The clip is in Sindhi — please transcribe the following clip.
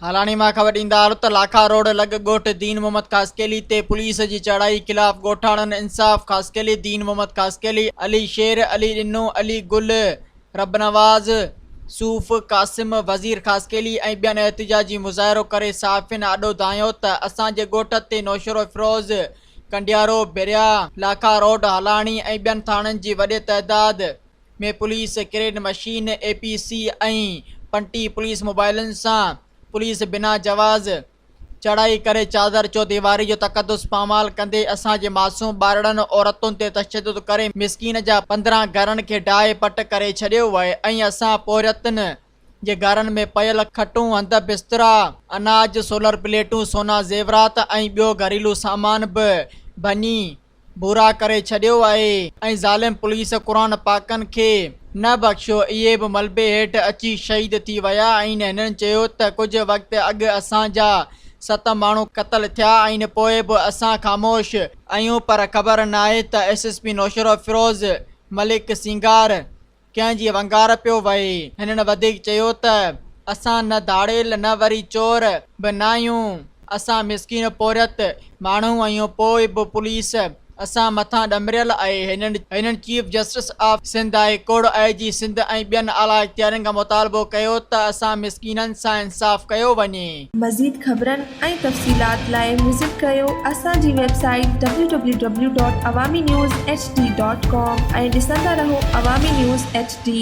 هالاڻي مان خبر ڏيندار ته لاکا روڊ لڳ ڳوٺ دين محمد خاصخيلي تي پوليس جي چڙهائي خلاف ڳوٺاڻن انصاف خاصخيلي دين محمد خاصخيلي علي شير علي ڏنو علي گل رب نواز، صوف، قاسم، وزير خاصخيلي ۽ ٻين احتجاجي مظاهرو ڪري صحافين آڏو دانهيو ته اسان جي ڳوٺ تي نوشهروفيروز، ڪنڊيارو، بريا، لاکا روڊ، هالاڻي ۽ ٻين ٿاڻن جي وڏي تعداد ۾ پوليس ڪريڊ مشين، اي پي سي ۽ پنٽي پوليس موبائلن سان پوليس بنا جواز، چڙهائي ڪري چادر چوديواري جو تقدس پامال ڪندي اسان جي معصوم ٻارڙن عورتن تي تشدد ڪري مسڪين جا پندرهن گهرن کي ڊاهي پٽ ڪري ڇڏيو وهي ۽ اسان پورهيتن جي گهرن ۾ پيل کٽون هنڌ بسترا اناج سولر پليٽون سونا زيورات ۽ ٻيو گهريلو سامان به ڀڃي ڀورا ڪري ڇڏيو آهي ۽ ظالم پوليس قرآن پاڪن کي نه بخشيو اهي به ملبي هيٺ اچي شهيد ٿي ويا آهن هنن چيو ته ڪجهه وقت اڳ اسان جا ست ماڻهو قتل ٿيا آهن پوء به اسان خاموش آهيون پر خبر ناهي ته S S P Naushahro Feroze Malik Singar ڪنهن جي ونگار پيو وهي. هنن وڌيڪ چيو ته اسان نه ڌاڙيل نه وري چور به ناهيون، اسان مسڪين پورهيت ماڻهو آهيون پوء به پوليس اسان مٿان ڏمريل آهي، هنن chief justice of Sindh high court, I G Sindh ۽ ٻين اعليٰ اختيارين کان مطالبو ڪيو ته اسان مسڪينن سان انصاف ڪيو وڃي. مزيد خبرن ۽ تفصيلات لاء وزٽ ڪريو اسان جي ويب سائيٽ www.awaminewshd.com ۽ ڏسندا رهو عوامي نيوز ايڇ ڊي